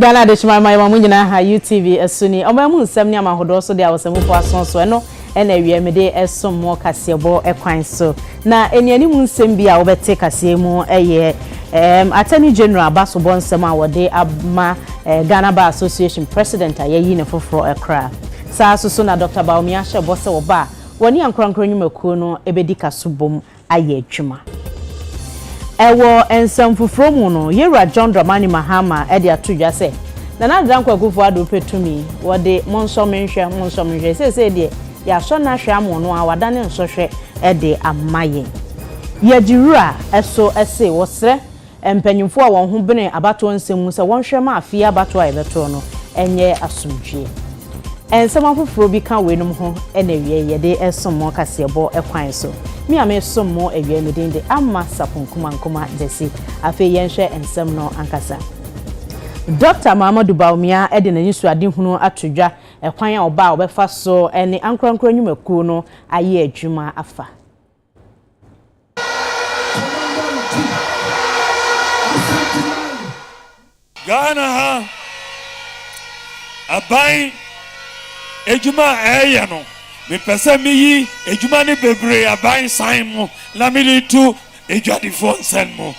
Ghana Adehyema Ɛma Yɛma Mo Nyinaa Ha UTV Ɛso Ni Ɔman Mu Nsɛm Ne Amahodoɔ So Deɛ Ɔsɛmufo Aso So Ɛno Ɛna Awia Mede Ɛsom Mo Kaseɛbɔ Kwan So Na Ɛnianimu Nsɛm Bi A Wobɛte Kaseɛ Mu Ɛyɛ Ɛɛm Attorney General Abasobɔ Nsɛm A Wɔde Ama Ɛɛ Ghana Bar Association President A Yɛayi Ne Foforɔ Ɛkora Saa So So Na Doctor Bawumia Hyɛ Bɔ Sɛ Wɔba A Wɔne Ankorankoro Nnwumakuo No Ɛbɛdi Ka So Bom ayɛ adwuma. Wɔ nsɛm foforɔ mu no, Yɛwura John Dramani Mahama de ato dwa sɛ, Nana Adanko Akuffo Addo pɛ tumi, wɔde monsɔ me nhwɛ, monsɔ me nhwɛ, seesei deɛ yɛasɔ no ahwɛ ama ɔno ara wadane nsɔhwɛ de ama yɛn. Yɛde wura so se wɔsrɛ Mpanyimfo a wɔn ho bene abatoɔ nsɛm mu sɛ wɔnhwɛ mma afe yi abatoɔ a yɛbɛtoɔ no nyɛ asomdwoeɛ. Nsɛm afoforɔ bi ka weinom ho na awiei yi yɛde resom mo kaseɛbɔ kwan so. Me a meresom mo awia yi me din de Amma Sapon Kumankoma Gyasi. Afei yɛnhwɛ nsɛm no ankasa. Dɔkta Mahamadou Bawumia de n'anisoadehunu ato dwa kwan a ɔbaa a ɔbɛfa so ne ankorankoro nnwumakuo no ayɛ adwuma afa. Ghana ha aban adwuma a ɛreyɛ no mepɛ sɛ meyi adwuma no bebree aban san mu na mede to adwadifoɔ nsɛn mu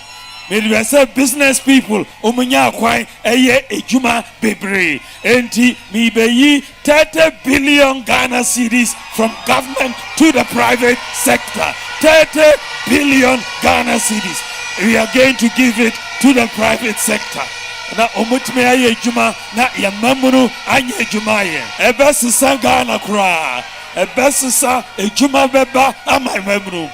mede bɛ sɛ business people wɔn nyɛ akwan ɛyɛ adwuma bebree Enti merebɛyi thirty billion Ghana cedis from government to the private sector, thirty billion Ghana cedis we are going to give it to the private sector na wɔtumi ayɛ adwuma na yɛn mmamunu anyɛ adwuma ayɛ. Ɛbɛsesa Ghana koraa, ɛbɛsesa adwuma bɛba ama mmamunu.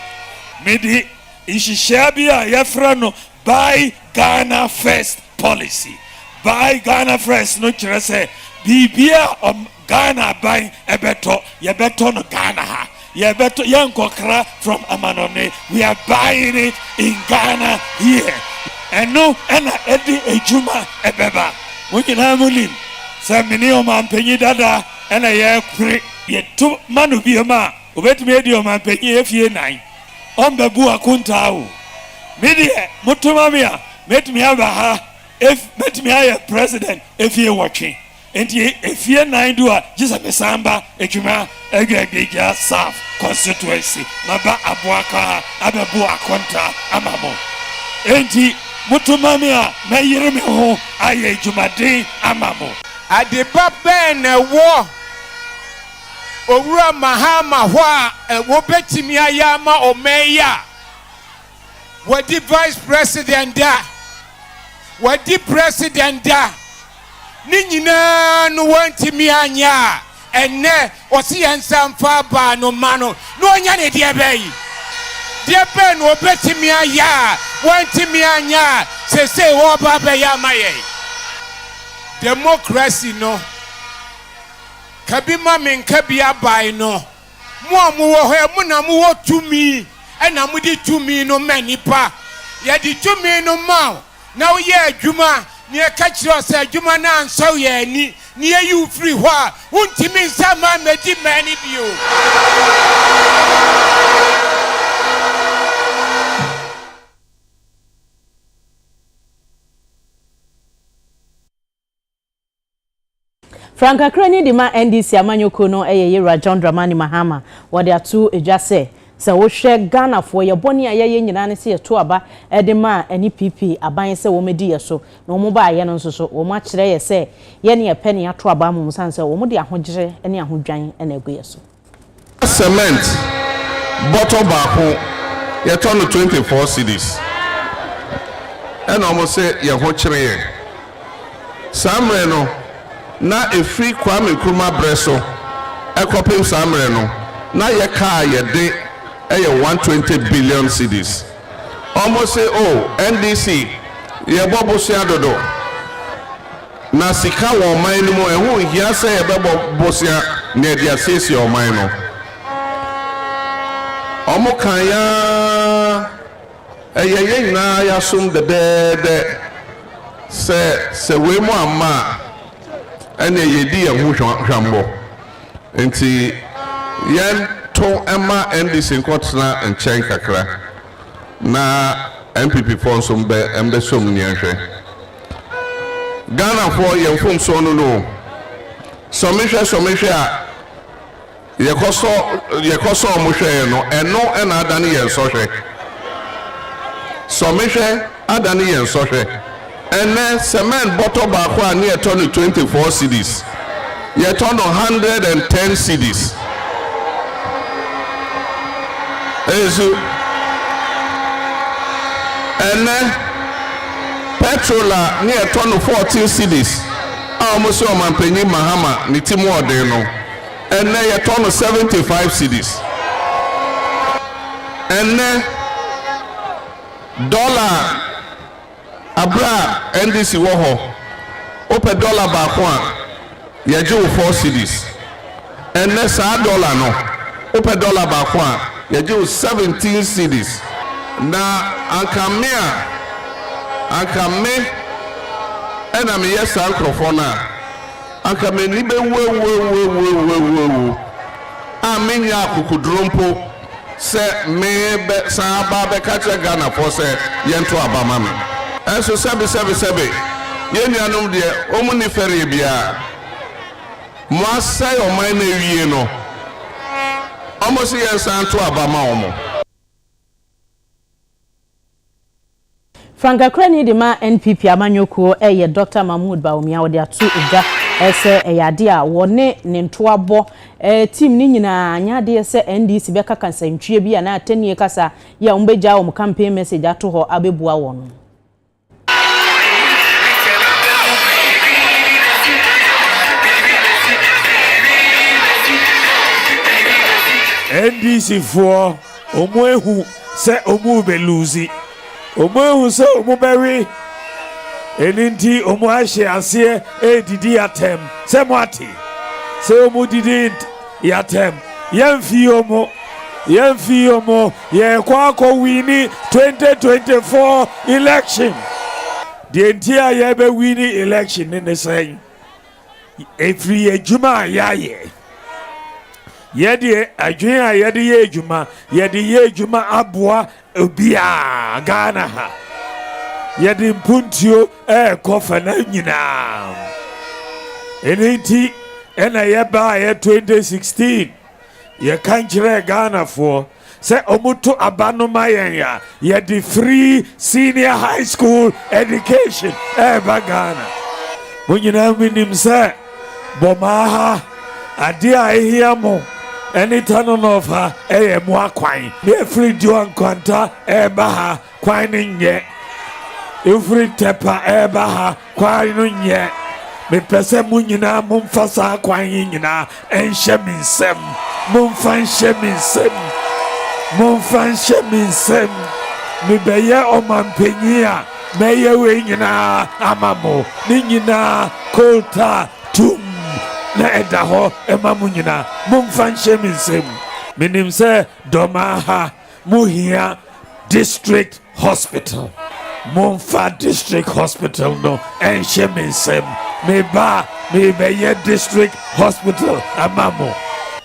Mede nhyehyɛe bi a yɛfrɛ no Buy Ghana First Policy, Buy Ghana First no kyerɛ sɛ biribiara a Ghana aban bɛtɔ, yɛbɛtɔ no Ghana ha. Yɛbɛtɔ, yɛnkɔkra from amanɔne. We are buying it in Ghana here. Ɛno na ɛde adwuma ɛbɛba. Mo nyinaa mo nim sɛ mene ɔmampanyin dada na yɛpere. Yɛto ma no biom a, obetumi adi ɔmampanyin afie nnan. ɔmmɛbu akontaa o. Me deɛ moto ma me a, mɛtumi aba ha ef mɛtumi ayɛ president efie nwɔtwe. Enti efie nnan du a, gye sɛ mesan ba Atwima Agwaadwagya South constituency. Maba Aboakwa ha abɛbo akontaa ama mo. Enti moto ma me a, mɛyere me ho ayɛ adwumaden ama mo. Adepa bɛn na ɛwɔ Owura Mahama hɔ a wɔbɛtumi ayɛ ama ɔman yi a wɔadi Vice President da, wɔadi President da, ne nyinaa no wɔantumi anyɛ a, ɛnnɛ ɔse yɛn nsa mfa abaa no mma no na ɔnyɛ ne deɛ bɛyi? Deɛ bɛn na ɔbɛtumi ayɛ a wɔantumi anyɛ a sesei wɔreba abɛyɛ ama yɛn? Democracy no Ka bi ma me nka bi abae no. Mo a mowɔ hɔ ɛ, mo na mowɔ tumi, ɛna mode tumi no ma nnipa. Yɛde tumi no maa wo, na woyɛ adwuma, na yɛka kyerɛ wo sɛ adwuma no ansɔ yɛn ani, na yɛyi wo firi hɔ a, wontumi nsan mma mmɛdi mmɛn no bio. Frankakrani de ma NDC amanyɔkuo no yɛ Yewura John Dramani Mahama. Wɔde ato dwa sɛ, sɛ wohwɛ Ghanafoɔ, yɛ bɔne a yɛyɛ nyinaa ne sɛ yɛto aba de ma ɛne PP aban sɛ wɔmɛdi yɛ so. Na wɔn baayɛ no nso so, wɔn akyerɛ yɛ sɛ yɛ ne yɛpɛ ne yɛato aba ama wɔn sane sɛ wɔn de ahogyere ne ahodwan na agu yɛ so. cement bɔtɔ baako yɛtɔ no twenty four cedis ɛna ɔmo se yɛn ho kyere yɛn saa mmerɛ no na efiri Kwame Nkrumah brɛ so ɛkɔpem saa mmerɛ no na yɛ kaa a yɛde ɛyɛ one twenty billion cedis ɔmo se oh NDC yɛbɔ bosea dodo. Na sika wɔ ɔman no mu, ɛho nhia sɛ yɛbɛbɔ bosea na yɛde asiesie ɔman no. Wɔkae ara, ɛyɛ yɛn nyinaa yɛasom dɛdɛɛdɛ sɛ sɛ wei mu amma a, ɛnneɛ yɛredi yɛn ho hwammɔ. Enti yɛnto mma NDC nkɔtena nkyɛn kakra. na NPP foɔ nso mbɛ mbɛ sɔ mu neɛ nhwɛ. Ghana foɔ yɛ mfomsoɔ no no o. Sɔ me hwɛ sɔ me hwɛ a yɛ kɔ sɔ yɛ kɔ sɔ ɔmo hwɛɛ no ɛno ɛna adane yɛn sɔhwɛ. Sɔ me hwɛ adane yɛn sɔhwɛ. Ɛnnɛ, cement bɔtɔ baako a ne yɛtɔ no twenty four cedis, yɛtɔ no hundred and ten cedis. Nso, ɛnnɛ, petrol a ne yɛtɔ no fourteen cedis a wɔn sɛ Ɔmanpanyin Mahama ne ti mu ɔden no, ɛnnɛ yɛtɔ no seventy five cedis. Ɛnnɛ, dɔla a. Aberɛ a NDC wɔ hɔ, wopɛ dɔla baako a, yɛgye wo four cedis. Ɛnnɛ saa dɔla no, wopɛ dɔla baako a, yɛgye wo seventeen cedis. Na anka me a, anka me na meyɛ saa nkorɔfoɔ no a, anka m'ani bɛwu awuawuawuawuawuo a mennya akokoduro mpo. sɛ me bɛ san aba abɛka akyerɛ Ghanafoɔ sɛ yɛn to aba ma me. Nanso sɛbe sɛbe sɛbe, yɛn nuanom deɛ wɔn nni fɛreɛ biara, mo asɛe ɔman no awie no, wɔn se yɛn san to aba ma wɔn. Frankakrani de ma NPP amanyɔkuo yɛ Dɔkta Mahmoud Bawumia a wɔde ato dwa sɛ ɛyɛ adeɛ a wɔne ne ntoabɔ team no nyinaa anyɛ adeɛ sɛ NDC bɛka kasantwie bi anaa atannie kasa yi a wɔbɛgyaa wɔn campaign message ato hɔ abɛbua wɔn. NDC foɔ. Wɔahu sɛ wɔrebɛ lose. Wɔahu sɛ wɔbɛwe. Ɛno nti wɔahyɛ aseɛ redidi yɛn atɛm. Sɛ moate? Sɛ wɔdidi yɛn atɛm. Yɛmfi wɔn. Yɛmfi wɔn. Yɛrekɔ akɔ wini 2024 election. Deɛ nti a yɛrebɛ wini election no ne sɛn? ɛfiri adwuma a yɛayɛ. Yɛdeɛ adwene a yɛde yɛ adwuma yɛde yɛ adwuma aboa obiara Ghana ha yɛde mpuntuo ɛrekɔ fa na nyinaa ɛno nti ɛna yɛbaeɛ 2016 yɛka nkyerɛ Ghanafoɔ Sɛ wɔto aba no ma yɛn a, yɛde free senior high school education ɛreba Ghana. Mo nyinaa monim sɛ Bomaa ha, adeɛ a ɛhia mo ne Tano North ha yɛ mo akwan. Yɛfiri Duah Nkwanta ɛreba ha. Kwan no nyɛ. Mfiri Ntɛpa reba ha kwan no nyɛ. Mepɛ sɛ mo nyinaa momfa saa kwan yi nyinaa nhyɛ me nsam. Momfa nhyɛ me nsam. Momfa nhyɛ me nsam. Mebɛyɛ ɔmampanyin a, mɛyɛ wei nyinaa ama mo. Ne nyinaa coal tar tumm na ɛda hɔ ma mo nyinaa. Momfa nhyɛ me nsam. Menim sɛ dɔm aha. Mo hia district hospital mo nfa district hospital no ɛnhyɛ me nsam me ba me bɛ yɛ district hospital ama mo.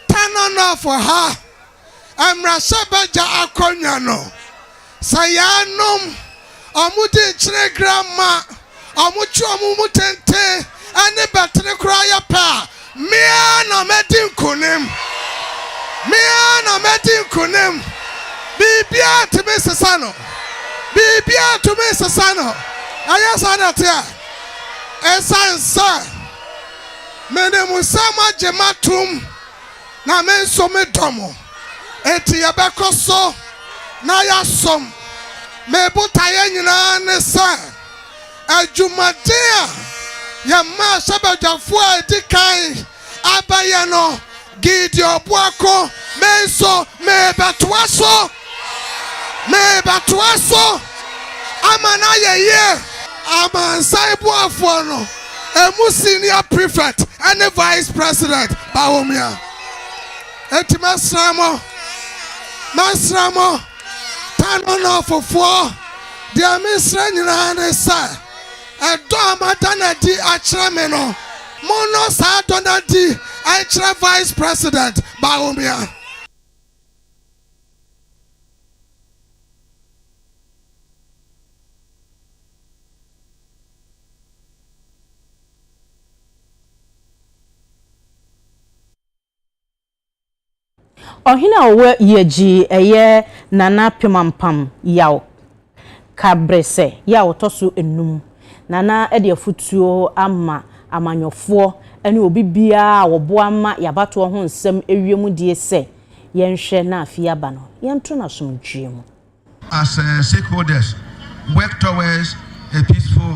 Tananafo ha mmrahyɛbagya akonnwa no sɛ yɛanom wɔde nkyene gram ma, wɔtwe wɔn mu tenten ne bɛtere koraa yɛ pɛ a, me ara na mɛdi nkonim. Me ara na mɛdi nkonim. Biribiara ntumi nsesa no. Biribiara ntumi nsesa no. Ɛyɛ saa na ɛteɛ. Ɛsiane sɛ menim sɛ moagye m'atom na me nso medɔ mo, enti yɛbɛkɔ so na yɛasom. Me botaeɛ nyinaa ne sɛ adwumaden a yɛn mmarahyɛbadwafoɔ a ɛdi kan abɛyɛ no, Gideon Boako, me nso merebɛtoa so. Merebɛtoa so ama no ayɛ yie. Amansan boafoɔ no ɛmu senior prefect ne vice president Bawumia. Enti mɛsrɛ mo, mɛsrɛ mo Kano Northfoɔ, deɛ mesrɛ nyinaa ne sɛ, ɛdɔ a moada no adi akyerɛ me no, monnɔ saa dɔ no adi nkyerɛ vice president Bawumia. Ɔhene a ɔwɔ yɛ gyii ɛyɛ Nana Pemampam yaw. Ka bere sɛ yɛ a ɔtɔ so anum na na ɛde afotuo ama amanyɔfoɔ ne obi biara a ɔboa ma yɛabatoɔ ho nsɛm awie mu die sɛ, Yɛnhwɛ na afei aba no yɛnto no asomdwoeɛ mu. As stakeholders work towards a peaceful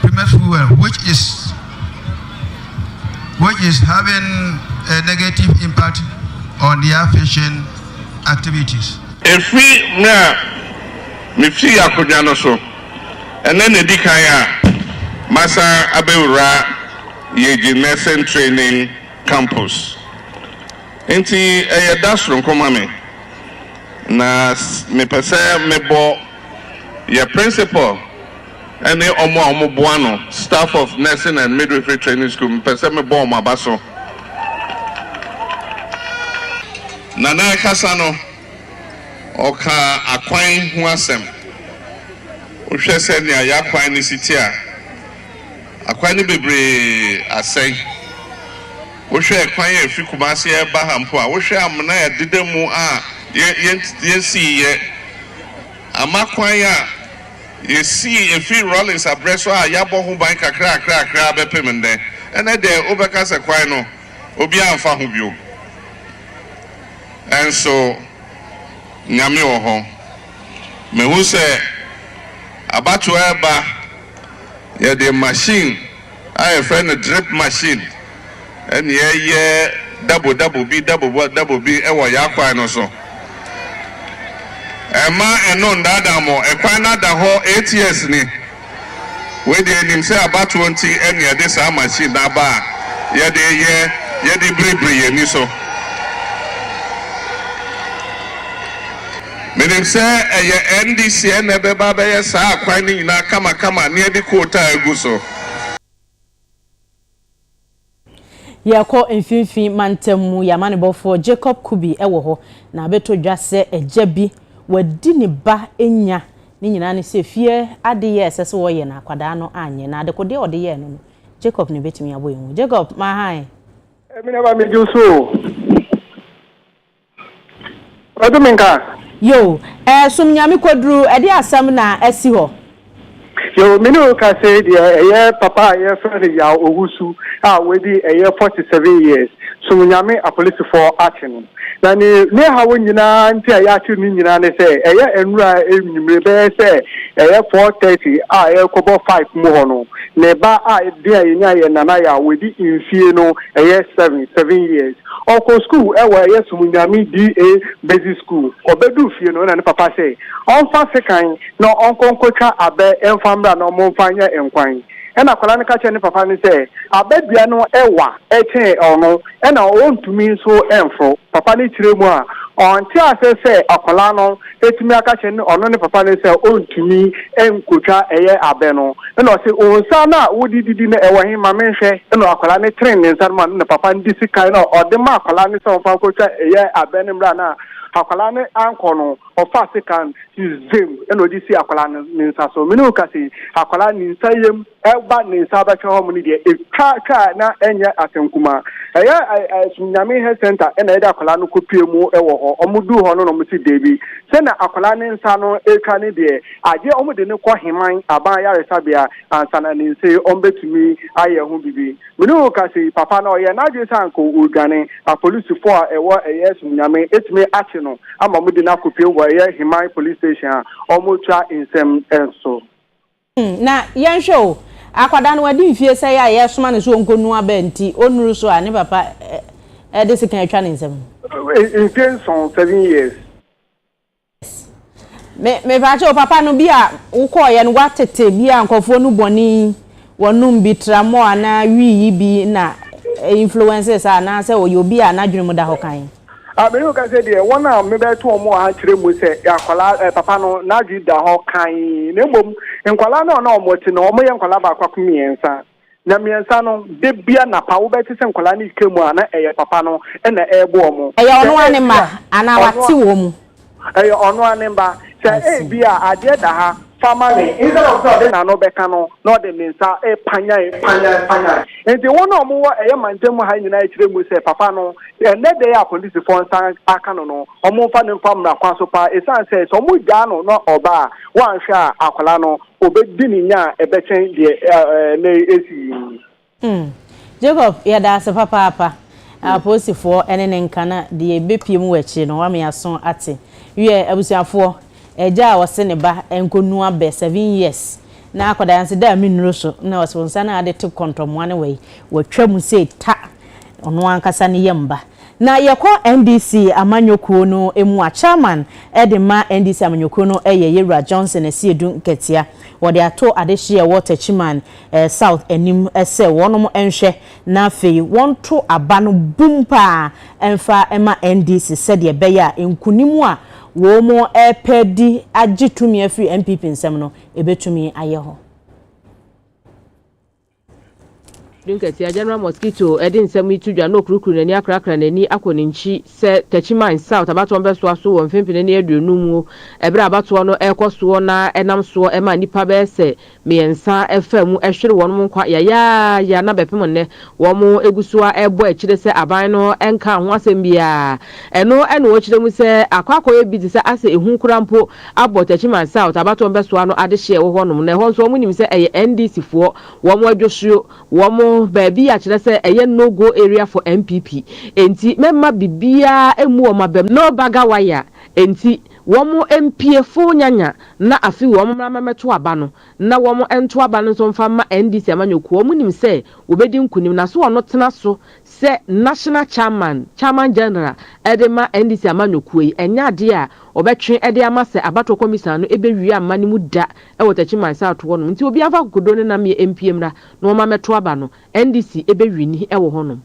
Premier fuel which is which is having a negative impact on their fishing activities. Efi mmerɛ a mefii akodwa no so, ɛnnɛ na edi kan a masan abɛwura Yeji Nursing Training Campus. Enti ɛyɛ da soronko ma me, na mepɛ sɛ mebɔ yɛ Principal, ne wɔn a wɔboa no, staff of Nursing and Midwifery Training School, mepɛ sɛ mebɔ wɔn aba so. Na n'ankasa no, ɔkaa akwan ho asɛm. Wohwɛ sɛnea yɛn akwan no si te a, akwan no bebree asɛe. Wohwɛ kwan a efi Kumasi reba ha mpo a, wohwɛ amena a ɛdeda mu a yɛn yɛn yɛn siiɛ ama kwan a. Yesii efi Rawlings abrɛ so a yɛabɔ ho ban kakrakrakra bɛpem nnɛ. Ɛnnɛ de, wobɛka sɛ kwan no, obiara mfa ho bio. Nanso, Nyame wɔ hɔ. Mahu sɛ abatoɔ reba, yɛde machine a yɛfrɛ no drip machine ne yɛyɛ dabo dabo bi dabo dabo bi wɔ yɛn akwan no so. Ɛma ɛno ndaadaa mo, ɛkwan no ada hɔ eight years ni. Wei deɛ yɛnim sɛ abatoɔ nti ɛne yɛde saa machine no aba a yɛde yɛ yɛde biribiri yɛn ani so. Menim sɛ ɛyɛ NDC na ɛbɛba abɛyɛ saa akwan no nyinaa kamakama na yɛde kootaa agu so. Yɛrekɔ Mfinfini Mantam mu, yɛn amanebɔfoɔ Jacob Kubi wɔ hɔ, na ɔbɛtɔ dwa sɛ agya bi wadi ne ba nya. Ne nyinaa ne sɛ fie adeyɛ a ɛsɛ sɛ wɔyɛ no akwadaa no anyɛ, na adekodeɛ a ɔde yɛɛ no no, Jacob na ɛbɛtumi abɔ yɛn ho. Jacob, ma hann. Ɛmi na ɛba me gye wo so o. Ɔde me nka. Yoo eh som Nyame koduru ɛde asɛm na asi hɔ. Yoo me ne wo ka sei deɛ ɛyɛ papa a yɛfrɛ no Yaw Owusu a wadi ɛyɛ 47 years som Nyame apolisifoɔ akye no na ne ne haw nyinaa nti a yɛakye no ne nyinaa ne sɛ ɛyɛ ɛnura ɛnwumire bɛyɛ sɛ ɛyɛ 4:30 a ɛrekɔbɔ 5 mu hɔ no ne ba a den a yɛnya yɛ Nana Yaw wadi mfie no ɛyɛ 7 7 years Ɔkɔ sukuu wɔ ɛyɛ Som Nyame DA Basic School. Ɔbɛduu fie no na ne papa sɛ ɔmfa sekan na ɔnkɔ nkɔtwa abɛ mfa mmra na ɔmfa nyɛ nkwan. Ɛna akwadaa no ka kyerɛɛ ne papa no sɛ abɛ dua no wa kyɛn ɔno na ɔntumi nso mforo. Papa no kyerɛ mu a ɔnte aseɛ sɛ akwadaa no bɛtumi aka kyerɛ ne ɔno ne papa no sɛ ɔntumi nkɔtwa ɛyɛ abɛ no. Ɛna ɔse, wo nsa no a wode didi no ɛwɔ he? Ma menhwɛ. Ɛna akwadaa no tene ne nsa no ma no na papa no de sika no a ɔde ma akwadaa no sɛ ɔmfa nkɔtwa ɛyɛ abɛ no mmra no a akwadaa no ankɔ no, ɔfaa sika no si zem ɛna ɔde si akwadaa no ne nsa so. Me ne wo ka sei, akwadaa no ne nsa yam. ɛba ne nsa bɛka hɔ mu no deɛ ɛtwa twa a na ɛnyɛ asɛm kumaa ɛyɛ ɛsum nyame health center ɛna ɛde akwadaa no kɔpie mu ɛwɔ hɔ ɔmo duu hɔ no na ɔmo si deebi sɛ na akwadaa ne nsa no ɛtwa ne deɛ agye ɔmo de ne kɔ heman aban ayaresabea ansa na ne nse ɔmo bɛtumi ayɛ ho bibi mene wo ka sei papa na ɔyɛ n'adwene sɛ anka ɔredwane apolisifoɔ a ɛwɔ ɛyɛ ɛsum nyame ɛtumi akye no ama ɔmo de no akɔpie wɔ ɛyɛ heman police station a ɔmo twa nsɛm ɛnso Hmm, na yɛnhwɛ o, akwadaa no wadi mfie sɛɛ a yɛresoma no sɛ ɔnkɔnu aba nti, ɔnnuru so a, ne papa de sekan atwa ne nsam. Mfie nson, seven years. Me, mepaakyɛ o, papa no bi a wokɔɔeɛ no, woatete bi a nkurɔfoɔ nu bɔne yi, wɔnom bi, tramɔɔ anaa wii yi bi na influence saa, anaasɛ ɔyɛ obi a n'adwene mu da hɔ kann? Ah, me reka sɛ deɛ wɔn a mebɛto wɔn wɔ ha kyerɛ mu sɛ akwadaa eh, papa no n'adwene da hɔ kan na mmom nkwadaa no a na wɔn te no wɔn yɛ nkwadaa baako ako mmiɛnsa na mmiɛnsa no de bia napa wobɛte sɛ nkwadaa no keka mu a na ɛyɛ papa no ɛna ɛrebɔ wɔn Ɛyɛ sɛ ɔno ara ne mma ebia anaa ɔno wate a wɔn mu. Ɛyɛ ɔno ara ne mba. Sɛ ebia adeɛ da ha, fa ma me. Instead of sɛ ɔde n'ano bɛka no, na ɔde ne nsa repanyan, panyan, panyan. Enti wɔn a wɔwɔ ɛyɛ mantam mu ha nyinaa rekyerɛ mu sɛ papa no, ɛnnɛ da yi a apolisifoɔ nsa aka no no, wɔmfa no mfa mmara kwan so paa ɛsiane sɛ sɛ wɔgyaa no na ɔba a, wɔanhwɛ a akwadaa no, ɔbɛdi ne nya a ɛbɛkyɛn deɛ ɛɛ ɛɛ nnɛ yi asi yi. Hmm. Jacob, yɛda ase papaapa. Apolisifoɔ ne ne nka na deɛ bɛpue mu wɔ akyire no, wama yɛaso ate. Wiɛ, abusuafoɔ, agya a ɔse ne ba nkɔnua bɛ seven years na akwadaa yi nso da me nnuro so na ɔse nsa no a ade te kɔntɔmmoa no wɔ yi, watwa mu sei ta. Ɔno ankasa ne yam ba. Na yɛkɔ NDC amanyɔkuo no mu a, Chairman de ma NDC amanyɔkuo no yɛ Yɛwura Johnson Asiedu Nkatia. Wɔde ato adehyeɛ a ɛwɔ Techiman. South anim sɛ wɔnom nhwɛ na afei wɔnto aba no bum paa mfa ma NDC sɛdeɛ ɛbɛyɛ a nkunim a wɔnom repɛ di agye tumi afiri NPP nsam no ɛbɛtumi ayɛ hɔ. Dun kɛseɛ, General Mosquito, de nsɛm yi to dwa na ɔkurukuru n'ani akrakra n'ani akɔ ne nkyi sɛ Techi Mines South abatoɔ no bɛsoa so wɔ mfempene ne aduonum mu berɛ a abatoɔ no rekɔ soɔ na ɛnam soɔ ma nnipa bɛyɛ sɛ mmiɛnsa faa mu hwere wɔn nkwa yayaaya na bɛpem nnɛ wɔgu so ara rebɔ akyire sɛ aban no nkaa ho asɛm biara. Ɛno na wɔkyerɛ mu sɛ akɔ akɔyɛ bi te sɛ asɛ ehu koraa mpo abɔ Techiman South abatoɔ mpɛsoa no adehyeɛ wɔ hɔnom na ɛhɔ nso wɔnim sɛ ɛyɛ NDC foɔ wɔn adwosuo, wɔn baabi a kyerɛ sɛ ɛyɛ no go area for NPP enti mɛmma biribiara mmu wɔn abam. No bugger wire enti Wɔn mpiefo nyanya na afe wɔn mmra mmɛto aba no na wɔn nto aba no nso mfa mma NDC amanyɔkuo. Wɔn nim sɛ wɔbɛdi nkunim na so ɔno tena so sɛ National Chairman, Chairman General, de ma NDC amanyɔkuo yi, ɛnyɛ adeɛ a ɔbɛtwe de ama sɛ abatoɔ kɔmisan no bɛwie amma no mu da wɔ Techiman South hɔnom. Nti obiara mfa akokoduo ne nammeɛ mpue mmra na wɔmma mmɛto aba no. NDC bɛwini wɔ hɔnom.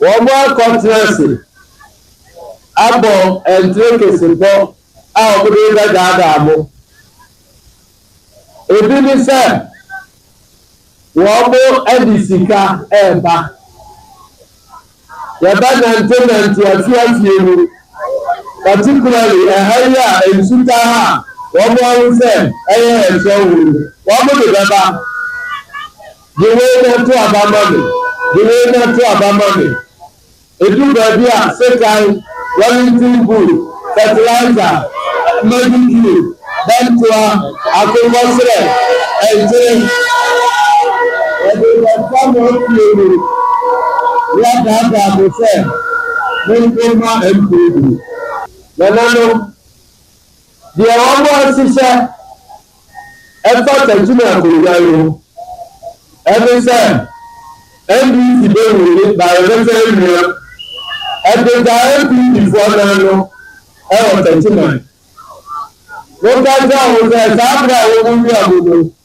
Wɔakɔtena ase abɔ ntirekesebɔ a wɔde rebɛdaadaa mo. Ebi ne sɛ wɔde sika reba. Yɛbɛnantenante afie afie mu, particularly ɛha yi a nsu taa ha a wɔahu sɛ ɛyɛ ɛserɛ wɔ mu no, wɔde bɛba. Gye wei na to aba ma me, gye wei na to aba ma me. Edu baabi a, sekan, Wellington boot, fertilizer, madu tube, bɛntoa, akokɔ serɛ, ɛnkyere. Wɔde bɛfa mo afie mu na wɔadaadaa mo sɛ monko mma mprɛduru. Nananom, Deɛ wɔahyehyɛ ɛfa Takyima akonnwa yi ho ɛne sɛ NDC bɛwuo ne Bayelsa awia ɛde gya NPP foɔ nan no ɛwɔ Takyiman. Moka nkyerɛ wɔn sɛ saa berɛ a wɔwuwia mu no,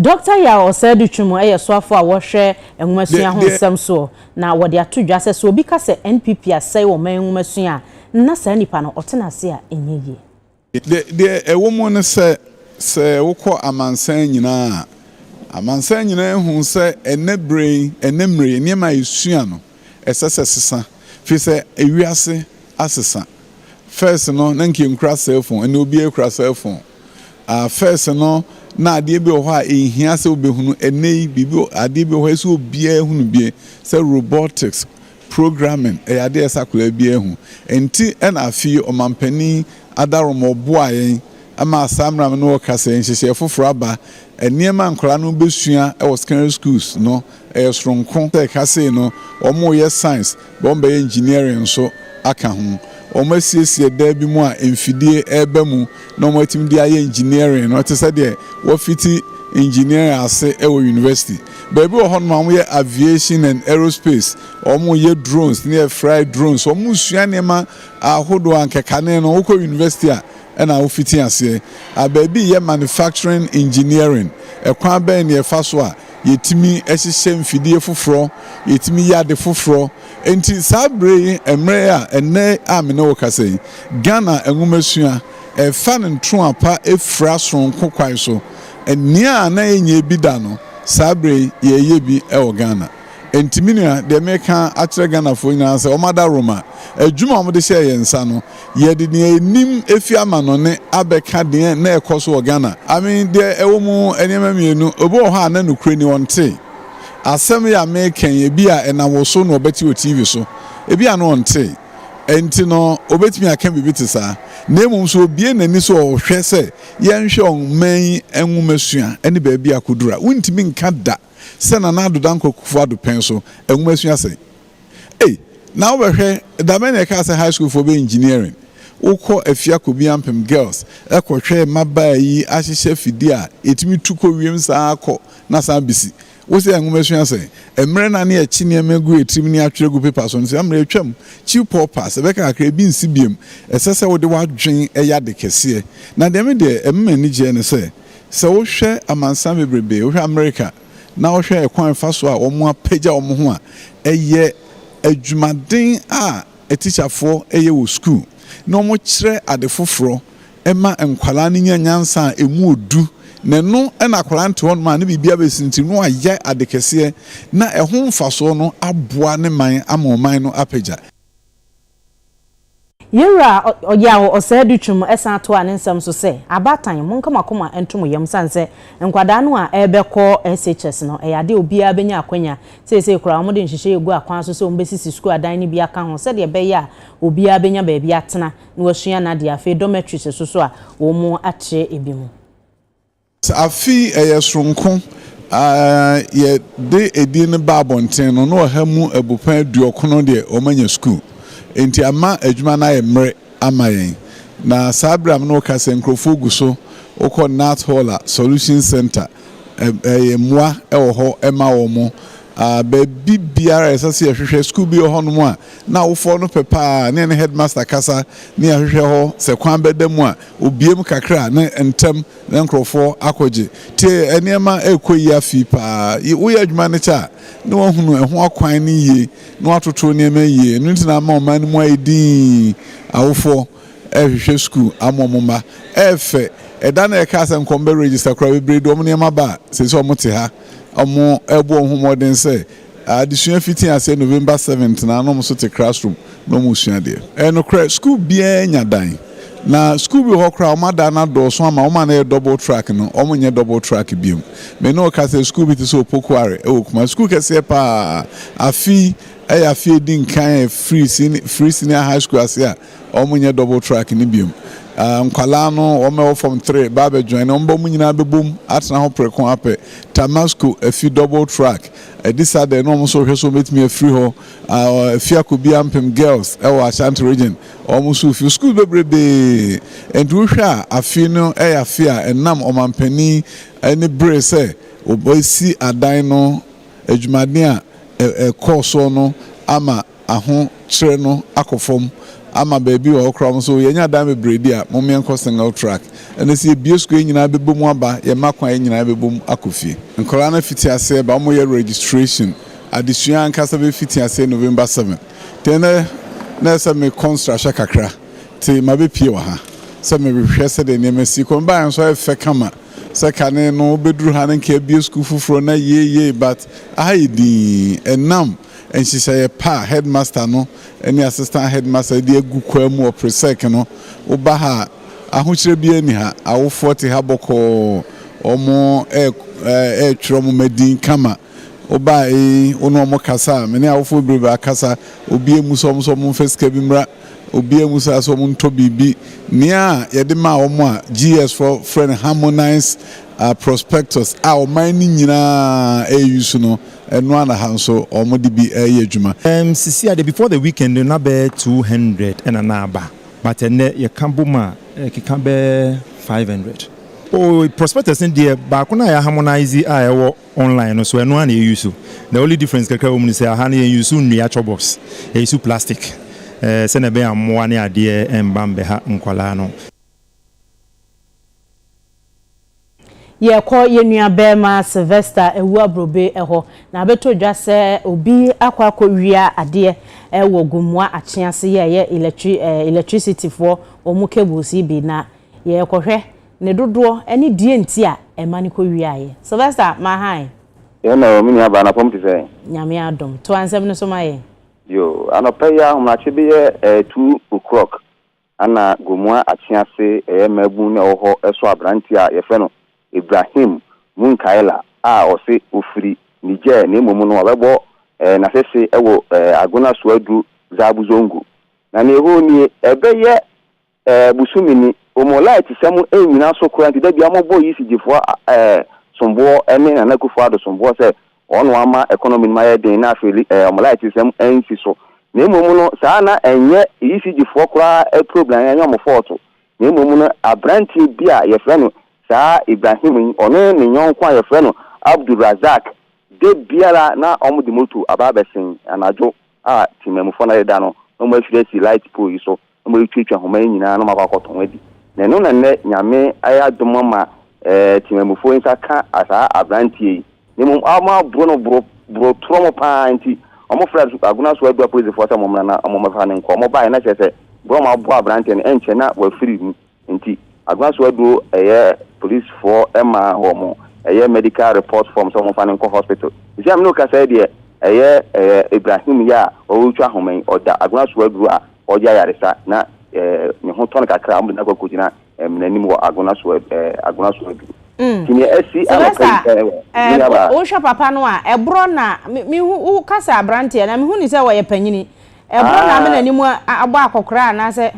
Dɔkta Yaw Ɔsɛedu Twum yɛ soafo a wɔhwɛ nwomasua ho nsɛm soɔ na wɔde ato dwa sɛ, sɛ obi ka sɛ NPP asɛe ɔman nwomasua a, na saa nipa no ɔte n'ase a ɛnyɛ yie. Deɛ ɛwɔ mu ne sɛ, sɛ wokɔ amansan nyinaa a, amansan nyinaa hu sɛ ɛnnɛ berɛ yi, ɛnnɛ mmerɛ yi, nneɛma a yɛsua no, ɛsɛ sɛ ɛsesa firi sɛ ewiase asesa first no na nka nkura cellphone ɛnna obiara kura cellphone ah first no na adeɛ bi wɔ hɔ a ehia sɛ obehunu ɛnna yi biribi adeɛ bi wɔ hɔ ɛsɛ obiara ehunu bie sɛ robotics programming ɛyɛ adeɛ ɛsɛ akwadaa bi ehu nti ɛna afi yi ɔmanpanin adarom ɔboa yɛn ɛma asaa mmerɛ mi no ɔkasa yɛn nhyehyɛ foforɔ aba nneɛma nkwadaa no bɛsua ɛwɔ secondary schools no. Ɛyɛ soronko sɛ ɛka sei no wɔreyɛ science, wɔbɛyɛ engineering nso aka ho. Wɔasiesie dan bi mu a mfidie reba mu na wɔatumi de ayɛ engineering no te sɛ deɛ wɔafiti engineering ase wɔ university. Baabi wɔ hɔnom a wɔyɛ aviation and aerospace, wɔyɛ drones ne yɛfry drones, wɔresua nneɛma ahodoɔ a anka kane no wokɔ university a na wofiti aseɛ. Aber bi yɛ manufacturing engineering, kwan bɛn na yɛfa so a yɛtumi hyehyɛ mfidie foforɔ, yɛtumi yɛ ade foforɔ. Nti saa berɛ yi, mmerɛ yi a ɛnnɛ a me ne wo kasa yi, Ghana nwomasua ɛrefa ne ntroa pa fira soronko kwan so. Nea na yɛnyɛ bi da no, saa berɛ yi yɛreyɛ bi wɔ Ghana. Nti me nua deɛ meka akyerɛ Ghanafoɔ nyinaa ne sɛ wɔn adaworoma adwuma a wɔde hyɛɛ yɛn nsa no yɛde deɛ yɛnim afi amanɔne abɛka deɛ na ɛkɔ so wɔ Ghana. I mean deɛ ɛwɔ mu nneɛma mmienu obi wɔ hɔ a na nokorɛ ni ɔnte asɛm yi a meka yi ebi a ɛnam wo so na ɔbɛte wɔ TV so ebi a na ɔnte nti no ɔbɛtumi aka biribi te saa na mmom nso obie n'ani so ɔhwɛ sɛ yɛnhwɛ ɔman yi nwomasua ne baabi a kɔduru a wontumi nka da sɛ Nana Addo Dankwa Kufuor-Addo pɛn so nwomasua sɛn? Ei, na wobɛhwɛ, da bɛn na yɛkaa sɛ high schoolfoɔ bɛyɛ engineering? Wokɔ afia kɔbia mpem girls kɔhwɛ mmabaa yi ahyehyɛ afidie a ɛtumi tu kɔ wiem saa ara kɔ na san bɛsi. Wo sɛ nwomasua sɛn? Mmerɛ no a na yɛkye nneɛma gu yɛn tirim ne atwerɛ agu paper so no, saa mmerɛ yi atwam. Chew paw-pass, ɛbɛka kakra, ebi nsi biom. Ɛsɛ sɛ wode w'adwene yɛ ade kɛseɛ. Na deɛ me deɛ ɛma me ani gyeɛ ne sɛ, Sɛ wohwɛ amansan bebrebe, wohwɛ Amerika na wohwɛ ɛkwan fa so a wɔapagya wɔn ho a, ɛyɛ adwumaden a atikyafoɔ yɛ wɔ sukuu na wɔkyerɛ ade foforɔ ma nkwadaa no nya nyansa a ɛmu ɔdu na ɛno na akwadaa no te hɔnom a ne biribiara bɛsintiri na wayɛ ade kɛseɛ na ɛho mfasoɔ no aboa ne man ama ɔman no apagya. Yewura Ɔyaw Ɔsɛe-Adutwum san toaa ne nsɛm so sɛ, Abaatan, monka mo akoma nto mo yam esiane sɛ nkwadaa no a ɛrebɛkɔ SHS no, ɛyɛ ade a obiara benya akwanya. Seesei koraa wɔde nhyehyɛe agu akwan so sɛ wɔbesisi sukuu adan no bi aka ho sɛnea ɛbɛyɛ a obiara benya baabi atena na wasua n'ade. Afei dormitories so nso a wɔakyerɛ ebinom. Sɛ afe yi ɛyɛ soronko a yɛ de edin no ba abɔnten no na ɔha mu abupɛn aduɔkron deɛ wɔn anya sukuu enti ama adwuma no ayɛ mmere ama yɛn na saa bere a me ne wo kasa yi nkurɔfoɔ gu so wokɔ Nath Hall a Solution Center ɛyɛ mmoa wɔ hɔ ma wɔn a baabi biara ɛsɛ sɛ yɛhwehwɛ sukuu bi wɔ hɔ nom a na awofoɔ no pɛ paa ne yɛne headmaster kasa ne yɛhwehwɛ hɔ sɛ kwan bɛda mu a obiem kakra ne ntɛm ne nkurɔfoɔ akɔgye. Tie nneɛma a ɛrekɔ yi afi paa. Yi woyɛ adwuma no kyɛ a, na wɔahunu ɛho akwan no yie, na wɔatoto nneɛma yie. Ɛno nti na ama ɔman no mu ayɛ dinn. Awofoɔ rehwehwɛ sukuu ama wɔn mma. Ɛyɛ fɛ. Ɛda no a yɛkaa sɛ nka wɔbɛregister koraa, bebree de wɔn nneɛma ba a, seesei wɔte ha. Wɔrebɔ wɔn ho mmɔden sɛ Adesua fitsi ase November seventh na nna wɔso tse classroom na wɔsua adeɛ. Ɛyɛ nokorɛ, sukuu biara nya dan. Na sukuu bi wɔ hɔ koraa a wɔn adan no adɔɔso ama wɔn a na ɛyɛ double track no wɔn nyɛ double track biom. Me ne wo ka sɛ sukuu bi te sɛ Opokuare wɔ Kumasi, sukuu kɛseɛ paa. Afi yi ɛyɛ afi a ɛdi nkan a ɛfiri seni, free senior high school ase a Ɔmo nyɛ double track no biom. Nkwadaa no ɔmo ɛwɔ form three ba abɛ join ɔmo ba ɔmo nyinaa bɛ bom atena hɔ preko apɛ Tamasco afi double track ɛdi sa dɛ na ɔmo nso rehwɛ sɛ ɔmo bɛtumi afiri hɔ afi akɔ bi ampem girls ɛwɔ Ashanti region ɔmo nso refi schools bebrebee ɛnti wo hwɛ a afi no ɛyɛ afi a ɛnam ɔmanpanin ɛne bere sɛ ɔbɛsi adan no adwumaden a ɛkɔɔ soɔ no ama Ahokyere no akɔ fam ama baabi wɔ hɔ koraa wɔn so yɛnya dan bebree di a mom yɛnkɔ single track ɛnɛ sɛ yɛbue school yɛn nyinaa bɛbɔ mu aba yɛn mma kwan yɛn nyinaa bɛbɔ mu akɔ fie. Nkwadaa no afiti aseɛ ba wɔn yɛ registration adesua ankasa bɛfiti aseɛ November seven nti ɛnɛ na ɛsɛ sɛ mekɔ nsrahwɛ kakra nti mabɛ pie wɔ ha sɛ mehwɛ sɛdeɛ nneɛma si kɔ mebaeɛ nso ayɛ fɛ kama sɛ kane no wobɛduru ha no nka yɛabue school foforɔ na yei yei but aha yɛ dinn ɛnam nhyehyɛeɛ pa a headmaster no ne assistant headmaster de agu kwaa mu wɔ Presec no, woba ha a, ahokyerɛ biara nni ha. Awofoɔ te ha bɔkɔɔ, wɔretwerɛ wɔn mma din kama. Woba a, ee, wo ne wɔn kasa a, me ne awofoɔ bebrebe akasa, obiara mmu sɛ wɔn nso wɔmfa sika bi mmra, obiara mmu saa sɛ wɔntɔ biribi. Nea yɛde maa wɔn a GSfoɔ frɛ no harmonised prospectus a ɔman no nyinaa reusu no, Ɛno ara na ha nso wɔde bi reyɛ adwuma. Erm sisi a deɛ before the weekend no na bɛyɛ two hundred ɛna na aba but ɛnɛ yɛka bom a ɛkeka bɛyɛ five hundred. Oh prospectus no deɛ baako no a yɛ harmonise a ɛwɔ online no so ɛno ara na yɛ use. The only difference kakra a ɛwɔ mu ne sɛ aha no yɛn use nnua chalk box yɛ use plastic eh sɛdeɛ ɛbɛyɛ a mmoa ne adeɛ ɛmba mbɛha nkwadaa no. Yɛkɔ yɛn nuabarima Sylvester Awuaburobe hɔ, na abɛtɔ dwa sɛ obi akɔ akɔwia adeɛ wɔ Gomoa Akyee ase yɛreyɛ electri electricityfoɔ wɔn cables yi bi, na yɛrekɔhwɛ ne dodoɔ ne deɛ nti a ɛma no kɔwiaeɛ. Sylvester, ma hann. Yɛn na o, me nuabaa, anɔpa mu te sɛn? Nyame adom. To ansɛm no so ma yɛn. Yoo, anɔpa yi ara ahomakye beyɛ ɛɛ two o'clock Ana Gomoa Atsease yɛ mmaabun na ɔwɔ hɔ sɔ aberantsɛ a wɔfrɛ no Ibrahim Munkaila a ɔse ofir Niger na mbom no ɔabɛbɔ n'asese wɔ Agona Suadru Zabu Zongo. Na ne hɔ nie bɛyɛ bosome ni. Omolayɛtsisɛm nnyina so koraa ntsi da biara mobɔ Yisi Jefoa somboɔ ne Nana Akufo-Addo somboɔ sɛ Wɔn ama economy nom ayɛ den na afei wɔn light nsɛm ansi so. Na mmom no saa na ɛnyɛ ECG foɔ koraa problem ɛnyɛ wɔn fault. Na mmom no abranteɛ bi a yɛfrɛ no saa Ibrahim yi ɔne ne yɔnko a yɛfrɛ no Abdul Razak da biara na wɔn de moto aba abɛsen anadwo a temanmufoɔ no adeda no na wɔn afiri asi light pole yi so na wɔatuatwa nhoma yi nyinaa na wɔakɔ akɔtɔn adi. Na ɛno na nnɛ Nyame ayɛ adom ama temanmufoɔ yi nsa ka saa aberanteɛ yi. Na mmom wɔaboro no boro boro torɔmo pa ara nti, wɔfrɛɛ Agonaso Adua Polisifoɔ sɛ wɔmmra na wɔmmɛfa no nkɔ. Wɔbaeɛ na kyerɛ sɛ berɛ a wɔaboa aberanteɛ no, ɛnkyɛ na wafiri mu. Nti Agua so aduro ɛyɛ police foɔ ɛma wɔn ɛyɛ medical report form sɛ wɔn fa no nkɔ hospital. Sisi a me ne wo kasa yi deɛ ɛyɛ ɛɛ Ibrahim yi a ɔretwa ahoma yi ɔda Agua so aduro a ɔyɛ ayaresa na ɛɛ ne ho tɔ no kakra a wɔn de no akɔ akɔ gyina ɛmina nim wɔ Agua so ɛɛ Agua so aduro. Nti nea ɛsi anɔpa yi ɛɛ me nua baa. Wohwɛ papa no a ɛborɔ na me me hu wo kasa abranteɛ na me hu no sɛ ɔyɛ panyini ɛborɔ na ama n'anim abɔ akɔkoraa anaasɛ.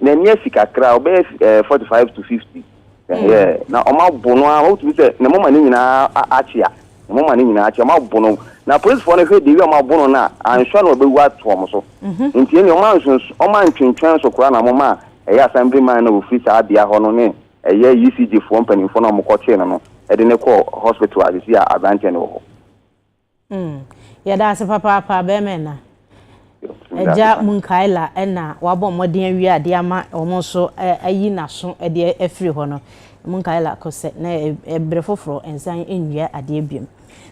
n'ani asi kakra ɔbɛyɛ eh, forty five to fifty hmm. na ɔmo abo no a wotumi sɛ ne moma ne nyinaa akyea ne moma ne nyinaa akyea ɔmo abo no na polisifoɔ no hwɛ de wi ɔmo abo no na anhwɛ na ɔbɛwu ato ɔmo so mhm. nti ɛni ɔmo anso ɔmo antwentwɛn so koraa na ɔmo ma ɛyɛ assembly man na ofiri saa bea hɔ no ne ɛyɛ ecg foɔ mpanimfoɔ na ɔmo kɔ kyee no no ɛde ne kɔ hospital asisi a aberanteɛ no wɔ hɔ. Mm. Yɛda ase papaapa bɛrima ɛna. Agya Munkaila ɛna wabɔ mmɔden awie adeɛ ama wɔn nso ayi n'aso ɛdeɛ afiri hɔ no. Munkaila kɔ sɛ na ɛbere foforɔ nsan nnua adeɛ biom.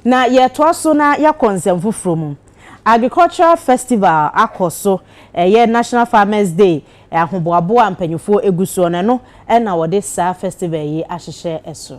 Na yɛtoa so na yɛakɔ nsɛm foforɔ mu. Agricultural Festival akɔ so ɛyɛ National Farmers Day ahoboaboa a mpanyinfoɔ egu soɔ no ɛno ɛna wɔde saa festival yi ahyehyɛ ɛso.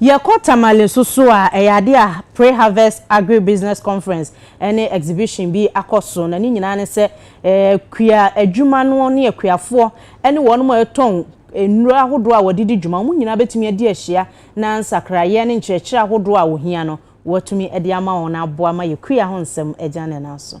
Yɛkɔ Tamale nso so a, ɛyɛ adeɛ a Pre-Harvest Agribusiness Conference ne exhibition bi akɔ so, na ne nyinaa ne sɛ akua adwuma no ne akuafoɔ ne wɔnom a ɛtɔn nnuro ahodoɔ a wɔde di dwuma, wɔn nyinaa bɛtumi adi ahyia na nsakraeɛ ne nkyerɛkyerɛ ahodoɔ a wɔhia no wɔatumi de ama wɔn na aboa ma yɛakua ho nsɛm agya ne nan so.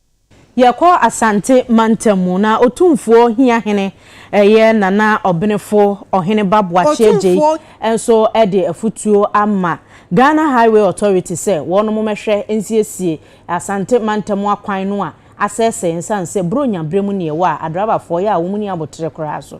Yɛkɔ Asante mantam mu na Otumfuo Hia Hene ɛyɛ Nana Ɔbenefo Ɔheneba Boakye Agyei nso de afutuo ama Ghana Highway Authority sɛ wɔnom mmɛhwɛ nsiesie Asante mantam akwan no a asɛesɛe nsiane sɛ Buronya berɛ mu neɛ wɔ a adrabafoɔ yɛ a wɔnni aboterɛ koraa so.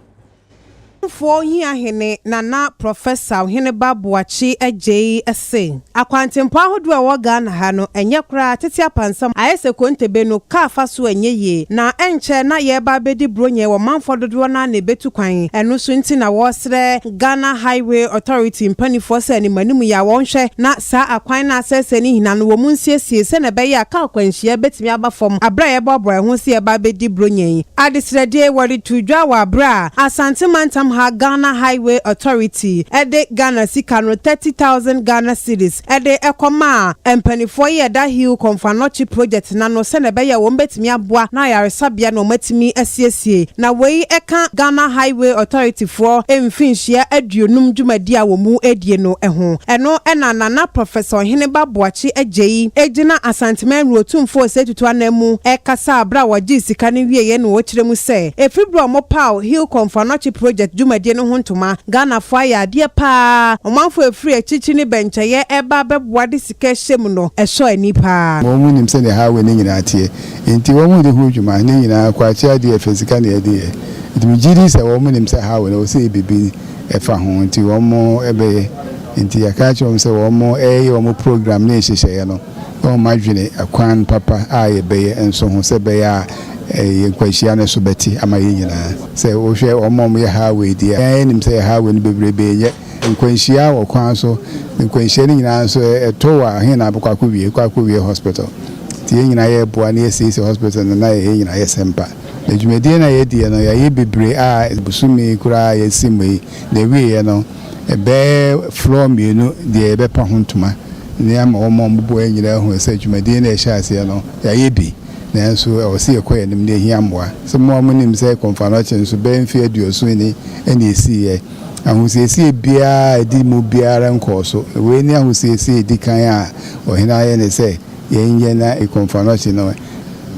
Ɔmanfoɔ Hiahene Nana Prɔfɛsa Oheneba Boakye Adjei se, Akwantempɔn ahodoɔ a ɛwɔ Ghana ha no, ɛnyɛ koraa tete apansam, ayɛ sɛ Kontebe no, kaa afasoɔ a ɛnyɛ yie, na ɛnkyɛ na yɛreba abɛdi Buronya wɔ manfoɔ dodoɔ no ara na ɛbɛtu kwan, ɛno nso nti na wɔresrɛ Ghana Highway Authority mpaninfoɔ sɛ animanim yi a wɔnhwɛ na saa akwan no a asɛesɛe no nyina no wɔn nsiesie sɛdeɛ ɛbɛyɛ a kaa akwanhyia bɛtumi aba fam berɛ a yɛreboaboa yɛn ho sɛ yɛreba abɛdi Buronya yi. Adesrɛdeɛ, Wɔde too dwa wɔ aberɛ a Asante Mantam ha Ghana Highway Authority de Ghana sika no thirty thousand Ghana cedis de kɔmaa mpaninfoɔ yi a ɛda Hill Komfo-Anokye project no ano sɛdeɛ ɛbɛyɛ a wɔn bɛtumi aboa na ayaresabea no wɔn atumi asiesie na wei ka Ghana Highway Authority foɔ mfinhyia aduonum dwumadie a wɔn redie no ho. Ɛno na Nana Professor Ɔheneba Boakye Agyei gyina Asanteman Nwura Otumfoɔ to anan mu kasaa bere a wɔgyee sika no wieeɛ na ɔkyerɛ mu sɛ, Ɛfiri berɛ a wɔpaw Hilcom Fanoakye Project dwumadie no ho ntoma, Ghanafoɔ ayɛ adeɛ pa ara. Ɔmanfoɔ a ɛfiri akyirikyiri ne bɛnkyɛeɛ reba abɛboa de sika hyɛ mu no, ɛsɔ ani pa ara. Wɔnim sɛdeɛ highway no nyinaa teɛ, enti wɔde ho dwuma no nyinaa kɔ akyire adeɛ a ɛfiri sika na wɔde yɛ. Enti megye di sɛ wɔnim sɛ highway no, ɛwɔ sɛ yɛyɛ biribi fa ho, enti wɔbɛyɛ. Enti yɛka akyerɛ wɔn sɛ wɔyɛ wɔn program ne nhyehyɛeɛ no. Wɔn adwene, kwan papa a yɛbɛyɛ nso ho, sɛ ɛbɛyɛ a yɛn nkwanhyia no so bɛte ama yɛn nyinaa. Sɛ wohwɛ wɔn a wɔyɛ highway deɛ a, yɛn ara yɛnim sɛ highway no bebrebe nyɛ nkwanhyia wɔ kwan so. Nkwanhyia no nyinaa nso ɛtɔ wɔ a, he na abɛkɔ akɔwie? Ɛkɔ akɔwie hospital. Nti yɛn nyinaa yɛreboa na yɛasiesie hospital no na yɛn nyinaa yɛsɛ mpa. Na dwumadie no a yɛadiɛ no, yɛayɛ bebree a bosome koraa a yɛasi mu yi, na ɛwieɛ no, Ɛbɛyɛ floor mmienu deɛ yɛbɛpa ho ntoma na yɛama wɔn a wɔboboa yɛn nyinaa ahunu sɛ dwumadie no a yɛhyɛɛ aseɛ no, yɛayɛ bi. Nanso ɛwɔ sɛ yɛkɔ yɛn anim na ɛhia mmoa. Sɛ mo ara monim sɛ Kɔmfanoakye no so, bɛyɛ mfeɛ aduoson ni na ɛsiiɛ. Ahosiesie biara a ɛdi mu biara nkɔɔ so. Na wei ne ahosiesie a ɛdi kan a ɔhene ayɛ ne sɛ, Yɛn yɛ na ekomfanɔkye no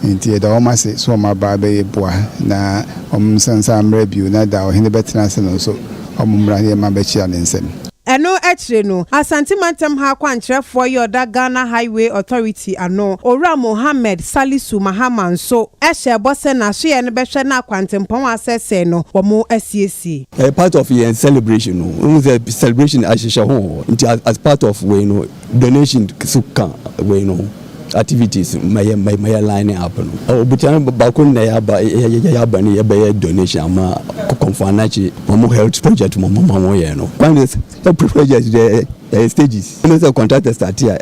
nti yɛda wɔn ase sɛ wɔn aba abɛyɛ boa na wɔn nsa nsa ammra bio na da a ɔhene bɛtena ase no nso wɔn mmra na yɛn mma bɛkyea ne nsam. Ɛno akyire no, Asante Mantam ha kwankyerɛfoɔ yɛ ɔda Ghana Highway Authority ano, Owura Mohammed Salisu Mahama nso hyɛɛ bɔ sɛ n'asoɛeɛ no bɛhwɛ na kwantempɔn a asɛesɛe no wɔasiesie. Ɛyɛ part of yɛn celebration no, wohu sɛ celebration ahyehyɛ ho wɔ hɔ nti as part of wei no Donation so ka wei no ho activities ma yɛ ma yɛ line up no. Obutan baako na yɛ aba yɛ yɛ aba ne yɛ bɛyɛ donation ama Kɔmfoanakye wɔn health project mo mo ma wɔn yɛ no. Kwan de sɛ project de ɛyɛ stages ɛna sɛ contractor start a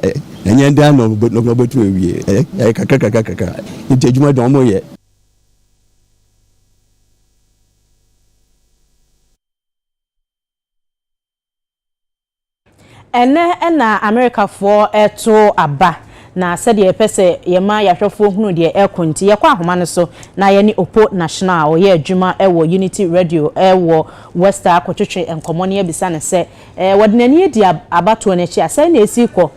ɛnyɛ dan na ɔbɛ na ɔbɛtu awie ɛyɛ kakra kakra kakra nti adwuma de wɔn yɛ. Ɛnnɛ na Amerikafoɔ reto aba, na sɛdeɛ yɛpɛ sɛ yɛma yɛn ahwɛfoɔ hunu deɛ ɛrekɔ nti, yɛkɔ ahoma no so na yɛne Opo National a ɔyɛ adwuma wɔ Unity Radio wɔ Westar kɔtwetwe nkɔmmɔ na yɛabisa no sɛ, wɔde n'ani adi abatoɔ no akyi a, sɛn na ɛsi rekɔ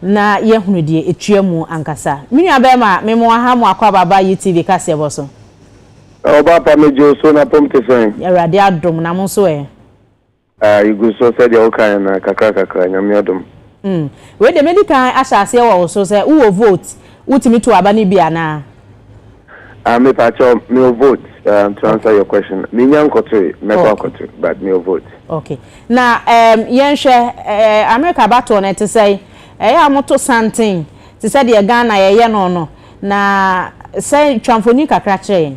na yɛahunu deɛ ɛtua mu ankasa. Me nuabarima, mema wo aha, Moako Aba aba UTV kaseɛbɔ so. Ɔbaapa, megye wo so, na pom te sɛn? Awurade adom, na mo nso ɛ? Ah yegu so sɛdeɛ wo kaeɛ no kakra kakra Nyame adom. Mm wei deɛ mɛdi kan ahyɛ aseɛ wɔ wo so sɛ wo wɔ vote wo tumi to aba no bi anaa. Ah me pa kyɛw me wɔ vote um to answer okay. your question me nya nkɔtoe mɛkɔ okay. akɔto but me wɔ vote. Okay na um yɛn hwɛ eh, America abatoɔ no ɛte sɛ ɛyɛ a wɔto santen te sɛ deɛ Ghana yɛyɛ no no na sɛ twa mfoni kakra kyerɛ yɛn.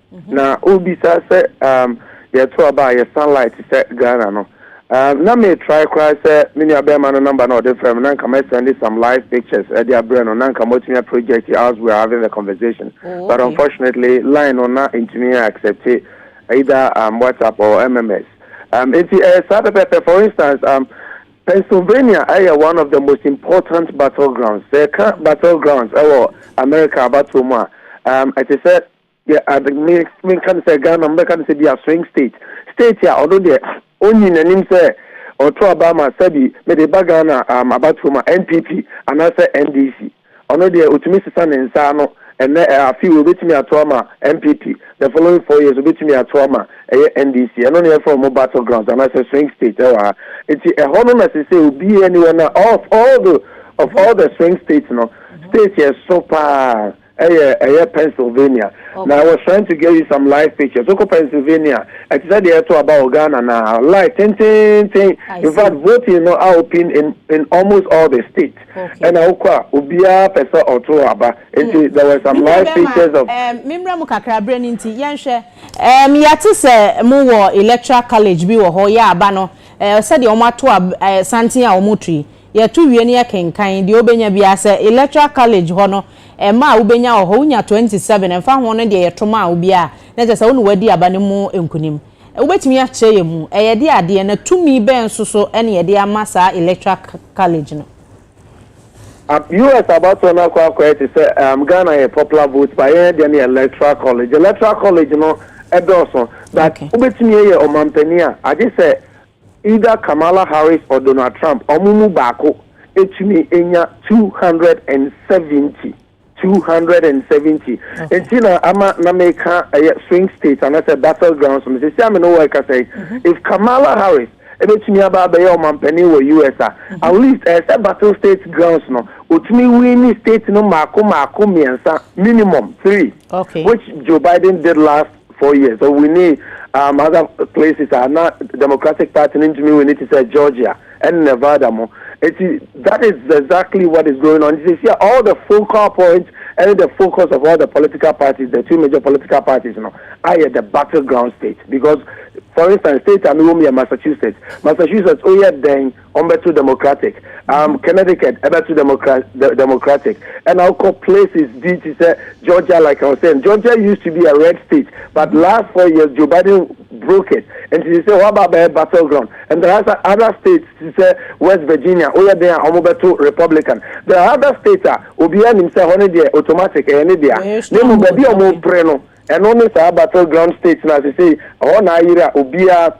mhm. na wobisa sɛ um, yɛto aba a yɛ sunlight sɛ ghana no um, na metrae koraa sɛ me nuabɛrima no namba na ɔde frɛ me na nka mɛsɛnde some live pictures ɛde abrɛ no na nka moatumi a project as we are having the conversation oh, okay. but unfortunately line no na ntumi accept it either um, whatsapp or mms um, nti ɛyɛ eh, saa pɛpɛpɛ for instance um, Pennsylvania ɛyɛ one of the most important battlegrounds. Sɛ ɛka battlegrounds ɛwɔ America abatoɔ mu a, um, ɛte sɛ Deɛ ade me menka ne sɛ Ghana mobɛka ne sɛ bi a swing state state a ɔno deɛ ɔnyi n'anim sɛ ɔto aba ma sɛbi mede ba Ghana um, abatoɔ ma NPP anaasɛ NDC ɔno deɛ ɔtumi sesa ne nsa ano ɛnɛ eh, afe wei ɔbɛtumi ato ama NPP the following four years ɔbɛtumi ato ama ɛyɛ NDC ɛno ne yɛfrɛ ɔmo battle grounds anaasɛ swing state ɛwɔ ha nti ɛhɔ no na sɛ sɛ obiara ni hɔ na of all the of all the swing states no state yɛ so paa Ɛyɛ ɛyɛ Pennsylvania. Na I was trying to get you some live pictures. Wokɔ Pennsylvania a, ɛte sɛ deɛ ɛto aba wɔ Ghana no ara. Live tenteenten. In fact, voting no aopen in in almost all the states. Ɛna wokɔ a, obiara pɛ sɛ ɔto aba. Nti there were some live pictures of. Me mmra mu kakra, berɛ no nti. Yɛnhwɛ. Ɛɛm, yɛate sɛ mowɔ Electoral College bi wɔ hɔ, yɛ aba no, ɛɛ, sɛdeɛ wɔato ab ɛɛ santen a wɔreto yi, Yɛto wie no yɛkenkan deɛ wobɛnya biara. Sɛ Electoral College hɔ no, mma a wobɛnya wɔ hɔ, wonya twenty seven, ɛmfa ho no deɛ yɛto maa wo biara a, na kyerɛ sɛ wo na woadi aba no mu nkunim. Wobɛtumi akyerɛ yɛn mu? Ɛyɛ de adeɛ, na tumi bɛn nso so na yɛde ama saa Electoral College no? Ab, US abatoɔ no akɔ akɔyɛ te sɛ um, Ghana yɛ popular vote ba yɛn deɛ no yɛ Electoral College. Electoral College no ɛdɔɔso, but okay. wobɛtumi yɛ ɔmampanin a, agye sɛ Either Kamala Harris or Donald Trump, ɔmo mu baako etumi enya two hundred and seventy, two hundred and seventy, nti na ama na meka ɛyɛ swing state anasɛ battle grounds no, sisi a me ne wo ɛkasa yi, mm-hmm. if Kamala Harris ebetumi aba abɛyɛ ɔmanpanin wɔ US a at least ɛsɛ battle state grounds no otumi winni state no mako mako mmiɛnsa minimum three okay. which Joe Biden did last Four years ɔwinii um other places a na Democratic Party no ntumi wini te sɛ Georgia ɛne Nevada mo eti that is exactly what is going on nti sisi a all the focal point ɛne the focus of all the political parties the two major political parties no ayɛ the battle ground state because for instance state a mi wɔ mu yɛ Massachusetts Massachusetts oyɛ dɛn wɔn bɛ to democratic um, connecticut ɛbɛ to democratic ɛna ɔkɔ places bi ti sɛ georgia like i was saying georgia used to be a red state but mm-hmm. last four years joe biden broke it and she said what about the battleground and there are other states she said west virginia oh yeah they are wɔn bɛ to republican there are other states a obiara nim sɛ hɔ ne deɛ automatic ɛyɛ ne deɛ ne mu baabi a wɔn pere no ɛno ne saa battleground state na sɛ sɛ ɔhɔ na ayere a obiara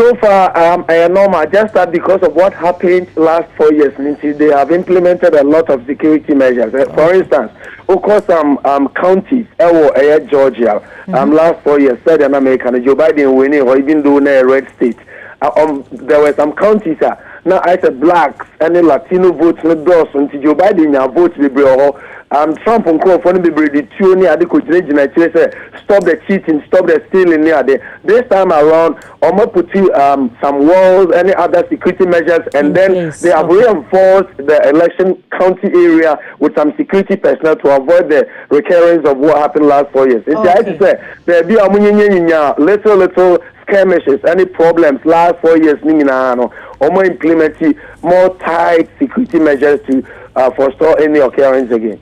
So far um ɛyɛ normal just that because of what happened last four years no nti they have implemented a lot of security measures eh, for instance wokɔ some um, counties ɛwɔ eh, ɛyɛ Georgia um, mm-hmm. last four years sɛdeɛ na meka no Joe Biden winning hɔ even though na ɛyɛ red state uh, um, there were some counties a na ayɛ sɛ blacks ɛne Latino votes no dɔɔso nti Joe Biden nya votes bebree wɔ hɔ Am Trump nkorɔfoɔ no bebree de tuo ne ade kɔgyinagyina akyire sɛ stop the cheating, stop the stealing ne ade. This time around wɔn a putu am some walls ne other security measures and then they have reinforced the election county area with some security personnel to avoid the recurrence of what happened last four years. Nti ayɛ te sɛ baabi a wɔn nyinyanyinyaa little little skirmishes ne problems last four years ne nyinaa no wɔn a implementi more tight security measures to Uh, for store any occurrence again.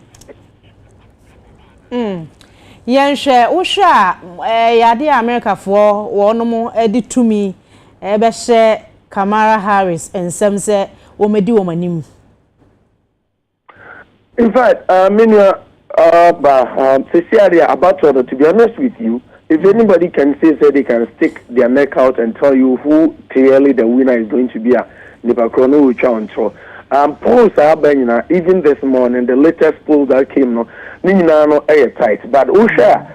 Mm. yɛnhwɛ wohwɛ a ɛyɛ eh, adeɛ a amerikafoɔ wɔnom eh, de tumi eh, bɛhyɛ kamara harris nsɛm sɛ wɔmɛdi wɔn anim in fact uh, me nua Ahh ba ahh sesia deɛ abatoɔ no to be honest with you if anybody can say sɛ they can stick their neck out and tell you who clearly the winner is going to be a nipa korɔ no retwa wo ntorɔ amm polls a aba nyinaa even this morning the latest poll that came no ne nyinaa no yɛ tight but wohwɛ a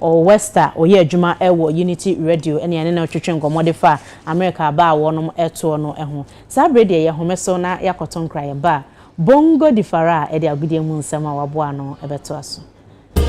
Ɔwɔ West a ɔyɛ adwuma wɔ Unity Radio ne yɛne no twetwe nkɔmmɔ de faa Amerika aba a wɔnom toɔ no ho. Saa bere deɛ yɛhome so na yɛakɔto nkra yɛba a, Bongo di far a ɛde agodie mu nsɛm a waboa ano bɛtoa so.